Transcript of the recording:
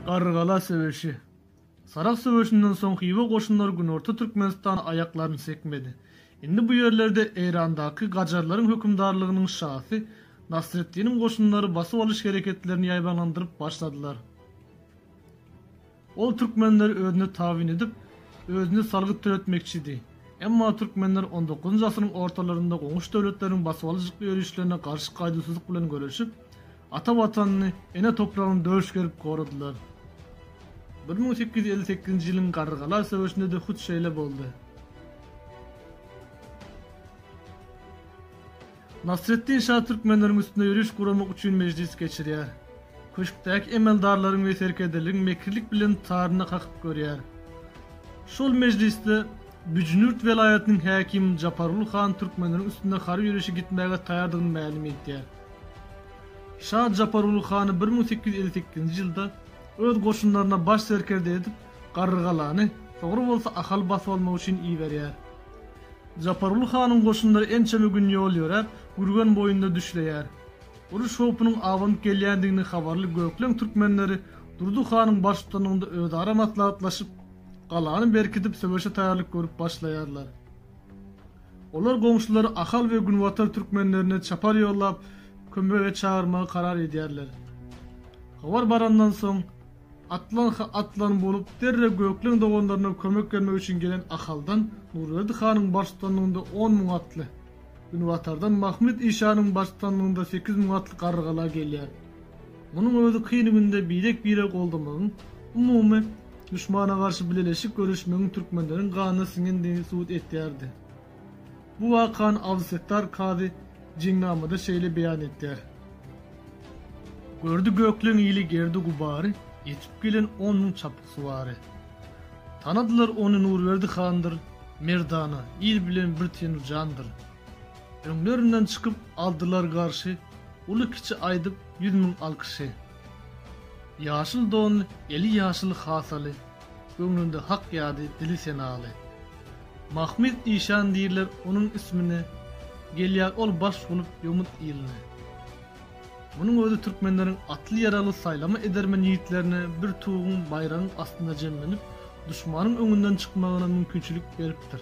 Garrygala söweşi. Sarahs söweşinden soň Hywa goşunlary günorta Türkmenistana aýaklaryny sekmedi. Indi bu ýerlerde Eýrandaky gajarlaryň hökümdarlygynyň şasy Nasreddiniň goşunlary basyp alyş hereketlerini ýaýbaňlandyryp başladylar. Ol türkmenleri özüne tabyn edip, özüne salgyt töletmekçidi. Emma türkmenler on dokuzynjy asyryň ortalarynda goňşy döwletleriň basybalyjykly ýörişlerine garşy gaýduwsyzlyk bilen göreşip, Ata Watanyny, ene topragyny döş gerip goradylar. Bir müň sekiz ýüz elli sekizinji ýylyň Garrygala söweşinde-de hut şeýle boldy. Nasreddin şa türkmenleriň üstüne ýöriş guramak üçin mejlis geçirýär. Köşkdäki emeldarlaryň we serkerdeleriň mekirlik bilen taryna kakyp görýär. Şol mejlisde Büjnürt welaýatynyň häkimi Japargul han türkmenleriň üstüne harby ýörişe gitmäge taýardygyny mälim etýär. Şa Japargul hany bir müň sekiz ýüz elli sekizinji ýylda öz goşunlaryna baş serkerde edip Garrygalany, soňra bolsa Ahal basyp almak üçin iberýär. Japargul hanyň goşunlary ençeme gün ýol ýöräp, Gürgen boýunda düşleýär. Uruş howpunyň abanyp gelýändigini habarly gökleň türkmenleri Durdy hanyň baştutanlygynda özara maslahatlaşyp, galany berkidip söweşe taýýarlyk görüp başlaýarlar. Olar goňşulary ahal we günbatar türkmenlerine çapar ýollap, kömege çagyrmagy karar edýärler. Habar barandan soň, atlanha atlan bolup, derrew Gökleň doganlaryna kömek bermek üçin gelen ahaldan Nurberdi hanyň baştutanlygynda on müň atly, günbatardan Mahmyt işanyň baştutanlygynda sekiz müň atly garrygala gelýär. Munuň özi kyn günde birek-bire goldamagyň, umumy duşmana garşy bileleşik göreşmegiň türkmenleriň ganyna siňendigini subut etýärdi. Bu wakany Abdysettar Kazy Jeňnamada şeýle beýan etýär. Gördi gökleň ili gerdi-gubary, ýetip gelen on müň çapyksuwary. Tanadylar ony Nurberdi handyr, merdana, il bilen bir tenu jandyr. Öňlerinden çykyp aldylar garşy, Uly kiçi aýdyp ýüz müň alkyşy. Ýaşyl donly, eli ýaşyl hasaly, Göwnünde hak ýady, dili senaly. Mahmyt işan diýirler onuň ismine, Gelýär ol baş bolup ýomut iline. Munuň özi türkmenleriň atly-ýaragly saýlama edermen ýigitlerine bir tuguň, baýragyň astynda jemlenip, duşmanyň öňünden çykmagyna mümkinçilik beripdir.